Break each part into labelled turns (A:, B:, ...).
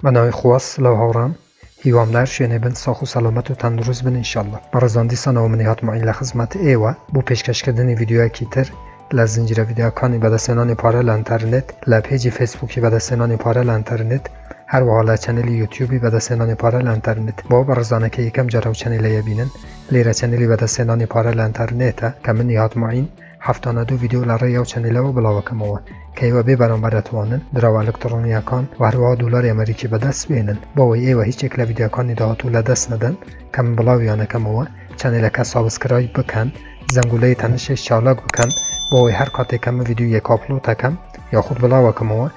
A: بە ناوی خوا سلاو هاوڕام هیوام لار شوێنێ بن ساخ و سەلامەت و تەندروست بن ان شاءاللە بەڕێزان دیسانەوە منی هاتمە لە خزمەت ئێوە بۆ پێشکەش کردنی ڤیدیۆیەکی تر لە زنجیرە ڤیدیۆکانی بەدەستهێنانی پارە لە ئینتەرنێت لە پێجی فەیسبووکی بەدەستهێنانی پارە لە ئینتەرنێت هەروەها لە چەنێلی یوتیوبی بەدەستهێنانی پارە لە ئینتەرنێت بۆ بەڕێزانە کە یەکەم جار ئەو چەنێلەیە بینن لێرە چەنێلی بەدەستهێنانی پارە لە ئینتەرنێتە کە منی هاتمە هەفتانە دوو ڤیدیۆ لە ڕێی ئەو چەنێلەوە بڵاو ئەکەمەوە کە ئێوە بێ بەرامبەر ئەتوانن دراوە ئەلکتڕۆنییەکان و هەروەها دۆلاری ئەمەریکی بەدەست بێنن بۆ ئەوەی ئێوە هیچ یەک لە ڤیدیۆکانی داهاتوو لەدەست نەدەن کە من بڵاویان ئەکەمەوە چەنێلەکە سابسکرایب بکەن زەنگولەی تەنشێش چالاک بکەن بۆ ئەوەی هەر کاتێک کە من ڤیدیۆیەک ئاپلۆد ئەکەم یاخود بڵاو ئەکەمەوە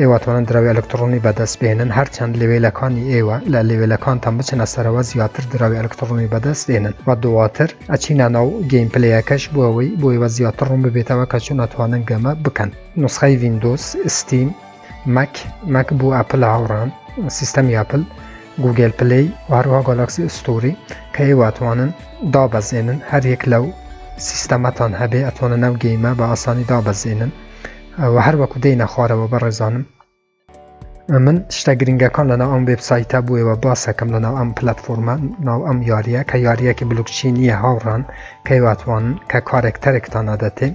A: ئێوە توانن دراوی ئەلکتڕۆنی بەدەست بێنن هەرچەند لەوێلەکانی ئێوە لە لەوێلەکانتان بچنە سەرەوە زیاتر دراوی ئەلکتڕۆنی بەدەست دێنن و دواتر ئەچینە ناو گەیم پلەیەکەش بۆەوەی بۆیوە زیاتر ڕوون ببێتەوە کە چۆن ئەتوانن گەمە بکەن نسخەی وینندۆس ستیم مەک مەک بۆ ئەپل هاوڕان سیستەمی ئەپل گوگل پلی و هەروها گۆلاکسی ئستوری کە ئێواتوانن دابەزێنن هەریەک لەو سیستەمەتان هەبێ ئەتوانە ناو گەیمە بە ئاسانی دابەزێنن وە هەر وەکو دێینە خوارەوە بەڕێزانم من شتە گرنگەکان لەناو ئەم وبسایتە بووەوە باسەکەم لەناو ئەم پلتفۆرمە ناو ئەم یاریە کە یاریەکی بلوکچی نییە هاوڕان کەیواتوان کە کارێکتەرێکتان نادەتێ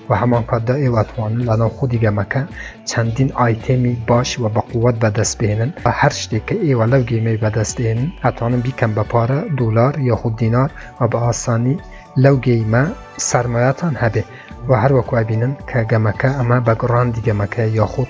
A: و هەمان کاتدا ئێواتوانن لەناو خودی گەمەکە چەندین ئایتێمی باش و بەقووەت بەدەست بێنن بە هەر شتێک کە ئێوە لەو گەیمەی بەدەستێن ئەتوانن بیکەم بە پارە دولار یاخود دینار و بە ئاسانی لەو گەیمە سەرمایەتان هەبێ و هەروەکو ئەبینن کە گەمەکە ئەمە بە گڕاندی گەمەکە یاخود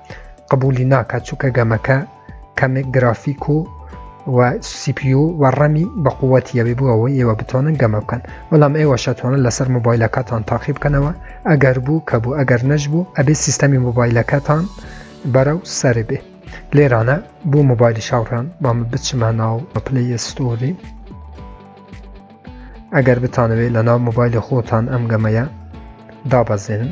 A: قبولی ناکات چونکە گەمەکە کەمێک گرافیک و و سیپیو و ڕەمی بە قووەتیەوەی بوو ئەوەی ئێوە بتۆنن گەمە بکەن بەڵام ئێوە شەتوانە لەسەر مۆبایلەکەتان تاقی بکەنەوە ئەگەر بوو کە بوو ئەگەر نەش بوو ئەبێ سیستەمی مۆبایلەکەتان بەرە و سەر بێ لێرانە بۆ مۆبایلی شاوڕان بامە بچمە ناو پلی ئەستۆری ئەگەر بتانەوێت لە ناو مۆبایلی خۆتان ئەم گەمەیە دابەزێنن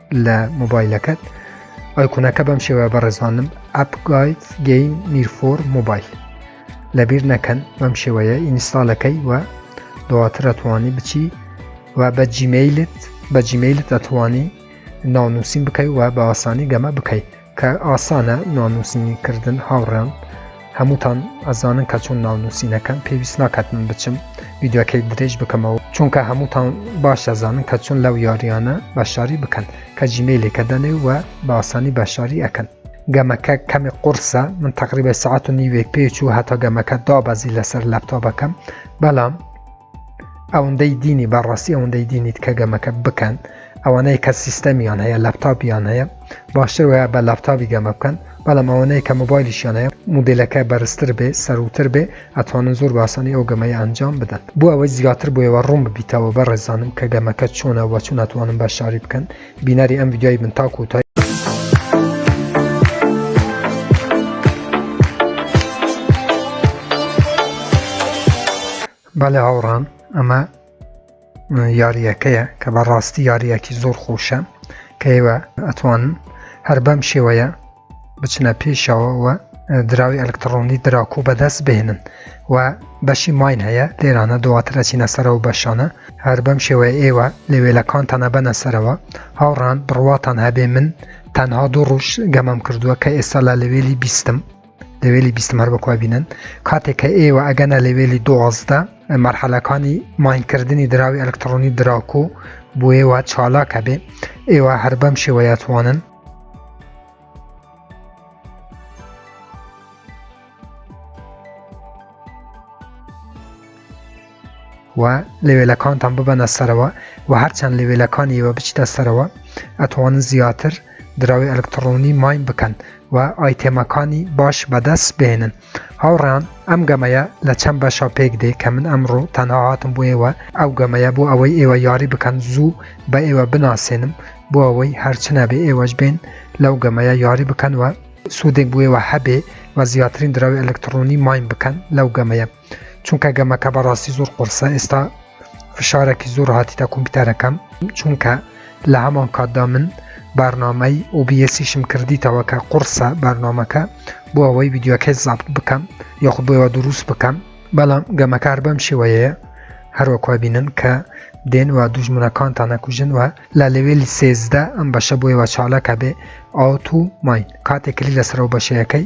A: لە مۆبایلەکەت ئایکونەکە بەم شێوە بەڕێزانم ئەپ گایت گەین نیرفۆر مۆبایل لەبیر نەکەن بەم شێوەیە ئینستالەکەی و دواتر ئەتوانی بچی و بە جیمیلت بە جیمیلت ئەتوانی ناونووسین بکەی و بە ئاسانی گەمە بکەیت کە ئاسانە ناونووسینی کردن هاوڕێیان هەمووتان ئەزانن کە چۆن ناونووسینەکەم پێویست ناکات من بچم ویددیوەکەی درێژ بکەمەوە چونکە هەمووتان باش ئەزانن کە چۆن لەو یاریانە بەشداری بکەن کە جیمەیلێکە دەنێ و بە ئاسانی بەشداری ئەکەن گەمەکە کەمی قرسە من تقریبە سعات و نیوێک پێچوو هەتا گەمەکە دابەزی لەسەر لەپتاپەکەم بەڵام ئەوەندەی دینی بەڕاستی ئەوەندەی دینیت کە گەمەکە بکەن ئەوانەیە کە سیستەمیان هەیە لەپتاپیان هەیە باشتر وایە بە لەپتاپی گەمە بکەن بەڵام ئەوەنەیە کە مۆبایلیشیان هەیە مدلەکە بەرزتر بێ سەروتر بێ ئەتوانن زۆر باسانی ئەو گەمەی ئەنجام بدەن بۆ ئەوەی زیاتر بۆیەوە ڕوون ببیتەوە بە ڕێزانم کە گەمەکە چۆنە وە چون ئەتوانم بە شاری بکەن بینەری ئەم ڤیدیۆی من تاکو و تای بەڵێ هاوڕان ئەمە یاریەکەیە کە بەڕاستی یاریەکی زۆر خۆشە کەیوە ئەتوان هەر بەم شێوەیە بچنە پێشەوە و دراوی ئەلکترۆنی دراکو بەدەست بهێنن و بەشی ماین هەیە لێرانە دواترە چینە سەرەوە بەشانە هەر بەم شێوەیە ئێوە لەوێلەکانتانە بەنە سەرەوە هاوڕان بڕواتان هەبێ من تەنها دوو ڕوش گەمەم کردووە کە ئێستا لە لەوێلی بیستم لەوێلی بیستم هەر بەکوا بینن کاتێک کە ئێوە ئەگەنە لەوێلی دوازدە مەرحەلەکانی ماینکردنی دراوی ئەلکترۆنی دراکو بۆ ئێوە چالاکە بێ ئێوە هەر بەم شێوەیەتوانن و لەوێلەکانتان ببەنە سەرەوە و هەرچەند لەوێلەکانی ئێوە بچیتە سەرەوە ئەتوانن زیاتر دراوی ئەلکترۆنی ماین بکەن و ئایتێمەکانی باش بەدەست بێنن هاوڕێیان ئەم گەمەیە لە چەند بەشە پێک دێ کە من ئەمڕۆ تەنها هاتم بۆ ئێوە ئەو گەمەیە بۆ ئەوەی ئێوە یاری بکەن زوو بە ئێوە بناسێنم بۆ ئەوەی هەرچنەبێ ئێوەش بێن لەو گەمەیە یاری بکەن و سوودێک بوێوە هەبێ و زیاترین دراوی ئەلکتڕۆنی ماین بکەن لەو گەمەیە چونکە گەمەکە بەڕاستی زۆر قورسە ئێستا فشارێکی زۆر هاتیتە کۆمپیوتەرەکەم چونکە لە هەمان کاتدا من بارنامەی OBSیشم کردیتەوە کە قڕسە بارنامەکە بۆ ئەوەی ویددیوەکەی زابت بکەم یاخود بۆەوە دروست بکەم بەڵام گەمەکار بەم شێوەیە هەروەکوە بینن کە دێن و دوژمنەکانتان نەکوژن وە لە لەوێلی سێزدە ئەم بەشە بۆیەوە چاڵەکە بێ ئاوت و ماین کاتێک کلی لەسەرەوە بەشەکەی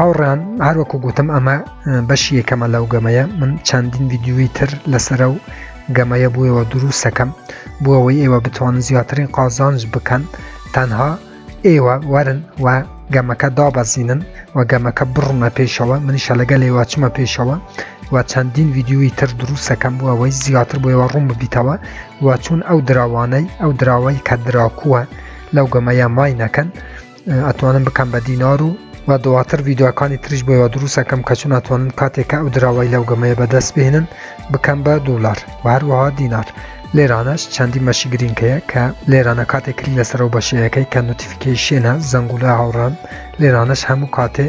A: هاوڕان هەروەکو گوتم ئەمە بەشی یەکەمە لەو گەمەیە من چەندین ویددیوی تر لەسرە و گەمەیە بووەوە دروستەکەم بۆ ئەوەی ئێوە بتوان زیاترین قازانج بکەن تەنها ئێوە وەرن و گەمەکە دابەزینن و گەمەکە بڕونە پێشەوە منیشە لەگە لێوا چمە پێشەوە و چەندین ویددیوی تر دروستەکەم بووە ئەوەی زیاتر بۆەوە ڕوون ببیتەوە و چون ئەو دراوانەی ئەو دراوەی کە دراکووە لەو گەمەیە مای نەکەن ئەتوانم بکەم بە دینار و و دواتر ڤیددیوەکانی تریش بۆ یوە دروستەکەم کە چون ئەتوانن کاتێک کە ئەو دراوای لەو گەمەیە بەدەست بهێنن بکەم بە دولار و هەروەها دینار لێرانەش چەندی مەشی گرینکەیە کە لێرانە کاتێک کلی لەسەرەوە بەشەیەەکەی کە نوتیفیکیشێنە زەنگولە هاوڕان لێرانەش هەموو کاتێ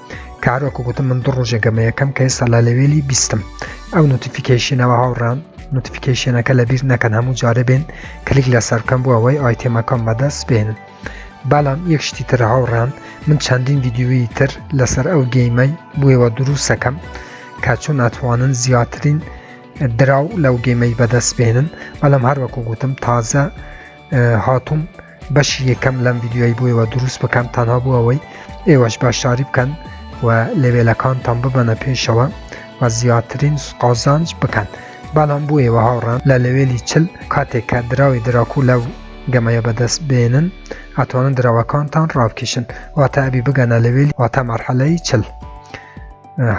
A: کارۆکە گوتم من دوو ڕۆژێک گەمە یەکەم کە ئێستا لە لەوێلی بیستم ئەو نوتیفیکیشنەوە هاوڕان نوتیفیکیشنەکە لە بیر نەکەن هەموو جارە بێن کلیک لە سەرکەم بووە ئەوەی ئایتێمەکەم بەدەست بێنن بەڵام یەک شتی تر هاوڕان من چەندین ویددیوی تر لەسەر ئەو گەیمەی بووەوە دروستەکەم کە چۆن ئەتوانن زیاترین دراو لەو گەمەی بەدەست بێنن بەڵام هەروەکو گوتم تازە هاتووم بەشی یەکەم لەم یددیوای بووەوە دروست بکەم تەنها بوو ئەوەی ئێوەش باشداری بکەن و لەوێلەکانتان ببەنە پێشەوە و زیاترین قازانج بکەن بەڵام بوو ئێوە هاوڕان لە لەوێلی چل کاتێک کە دراوی دراکو لەو گەمەیە بەدەست بێنن ئەتوانن دراوەکانتان ڕابکیشن واتە ئەبی بگەنە لەوێلی واتە مەرحەلەی چل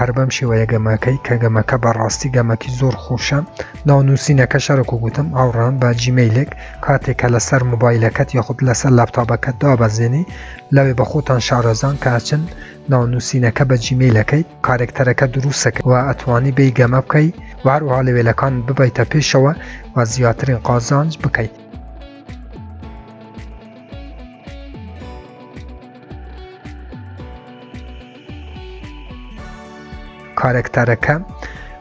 A: هەر بەم شێوەیە گەمەکەی کە گەمەکە بەڕاستی گەمەکی زۆر خۆشە ناو نووسینەکە شەرک و گوتم ئاوڕان بە جیمەیلێک کاتێک کە لەسەر موبایلەکەت یاخود لەسەر لاپتاپەکەت دابەزێنی لەوێ بە خۆتان شارەزان کاچن ناو نووسینەکە بە جیمەیلەکەی کارێکتەرەکە دروستەکە و ئەتوانی بی گەمە بکەی وهروها لەوێلەکان ببیتە پێشەوە و زیاترین قازانج بکەیت کارەکتەرەکە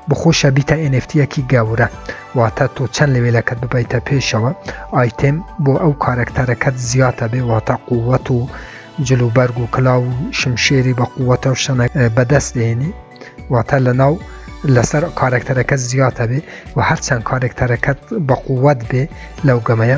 A: بخۆشە بیتە ئەنفتیەکی گەورە واتە تۆ چەند لەوێلەکەت ببیتە پێشەوە ئایتم بۆ ئەو کارەکتەرەکەت زیاتە بێ واتە قووەت و جلوبەرگ و کلااو و شمشێری بە قووەتە و شەنە بەدەست دێنی واتە لە ناو لەسەر کارەکتەرەکە زیاتە بێ و هەرچەند کارەکتەرەکەت بە قووەت بێ لەو گەمەیە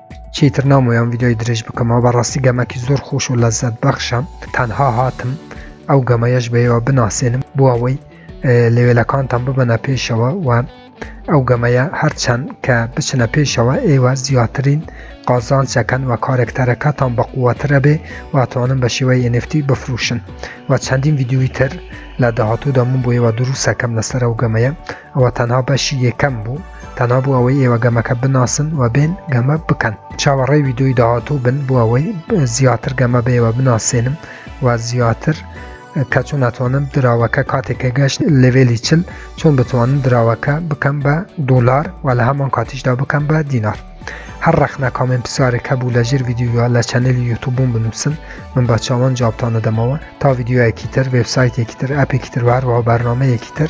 A: چیتر نامۆیان ڤیددیۆی درێژ بکەمەوە بەڕاستی گەمەکی زۆر خۆش و لەزەت بەخشە تەنها هاتم ئەو گەمەیەش بەیەوە بناسێنم بۆ ئەوەی لەوێلەکانتان ببەنە پێشەوە و ئەو گەمەیە هەرچەند کە بچنە پێشەوە ئێوە زیاترین قازانچەکەن و کارێکتەرەکەتان بە قووەترە بێ واتوانن بە شێوەی NFT بفروشن و چەندین یددیوی تر لە داهاتوو دەمون بۆ ئێوە دروستەکەم لەسەر ئەو گەمەیە ئەوە تەنها بەشی یەکەم بوو تەنها بۆ ئەوەی ئێوە گەمەکە بناسن و بێن گەمە بکەن چاوەڕێ ویددیوی داهاتوو بن بۆ ئەوەی زیاتر گەمە بێەوە بناسێنم و زیاتر کە چۆن ناتوانم دراوەکە کاتێکە گەشت لەوێلی چل چۆن بتوانم دراوەکە بکەم بە دۆلار و لە هەمان کاتیشدا بکەم بە دینار هەر ڕەخنە کامێن پرسیارێک هەبوو لە ژێر ویددیوە لە چەنێلی یوتوبوون بنووسن من بە چاوان جوابتانە دەمەوە تا ویددیوەکی تر وبسایتێکی تر ئەپێکی تر هەروەوە بەرنمەیەکی تر